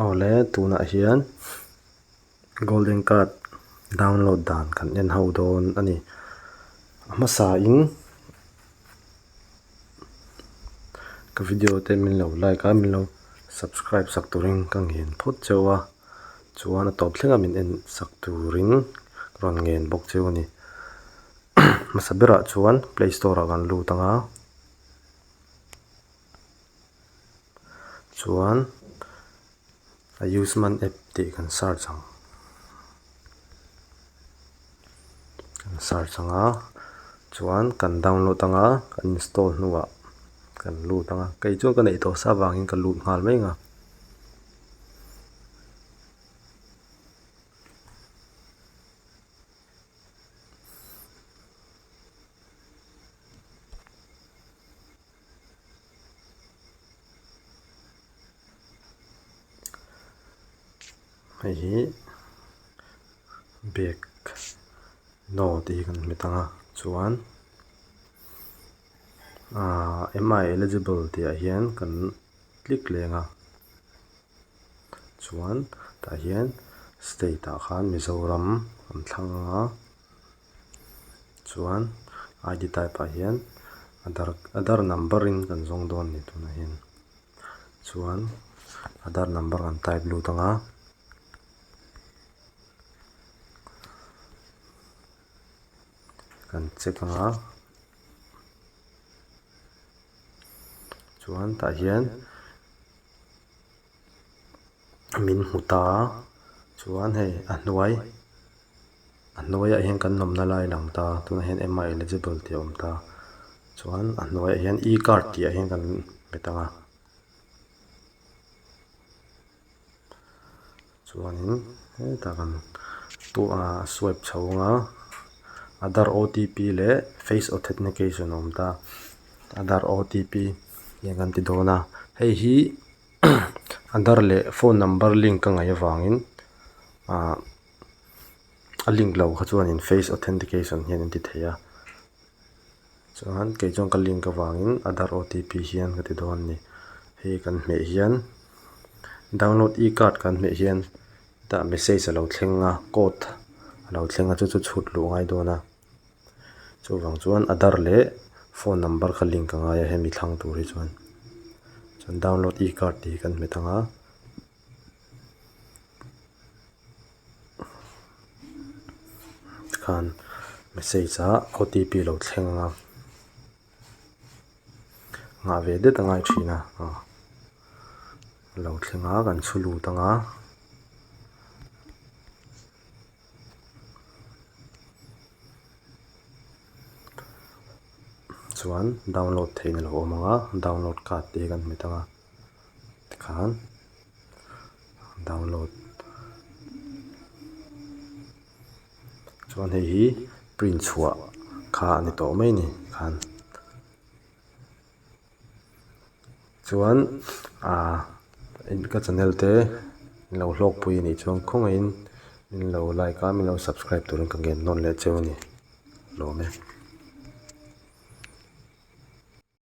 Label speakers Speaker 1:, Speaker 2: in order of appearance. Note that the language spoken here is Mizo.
Speaker 1: Awle tunah hian golden card download dan kan en ho dawn a ni a hmasa in ka video te min lo like a min lo subscribe sak turin ka nghen phawt chauh a chuan a tawp thleng a min en sak turin rawn nghen bawk cheu a ni hmasa berah chuan play store ah kan lut ang a. chuan a useman app tih kan search ang kan search ang a chuan kan download anga kan install hnuah kan lut ang a kei chu ka neih tawh sa avangin ka lut nghal mai anga Hei hi bag no tih kan hmu thang a chuan aaa mi eligible tih ah hian kan click leng a chuan tah hian state ah khan Mizoram an thlang a. Chuan ID type ah hian adhar adhar number in kan zawng dawn ni tuna hian chuan adhar number kan type lut anga kan check anga chuan tah hian-- min hmu ta a chuan hei a hnuai a hnuaiah hian kan nawmna lai lang ta tunah hian ema eligible tih a awm ta chuan a hnuaiah hian e card tih ah hian kan hmet ang a chuanin heta kan pu a swipe chho anga aadhar otp leh face authentication a awm ta. Aadhar OTP nge kan ti dawn a hei hi aadhar leh phone number link a ngaih avangin ah a link lo kha chuanin face authentication hian an ti thei a chuan kei chuan ka link avangin aadhar OTP hian ka ti dawn a ni hei hi kan hmeh hian download e card kan hmeh hian hetah message a lo thleng a code a lo thleng a chu chu chhut luh a ngai dawn a. chuvang chuan aadhar leh phone number kha link a ngai a hemi thlang tur hi chuan chuan download e card tih hi kan hmu thang a tikhan message a otp lo thleng anga nghah ve det a ngai thin a ah lo thleng a kan chhu lut anga. chuan download theihna lo awm ang a download card te hi kan hmu thang a tikhan download chuan hei hi print chhuah kha a ni tawh mai a ni tikhan. Chuan aah ka channel te min lo hlawk pui a nih chuan khawngaih in min lo like a min lo subscribe tur in ka nghen nawn leh cheu a ni hlawm e.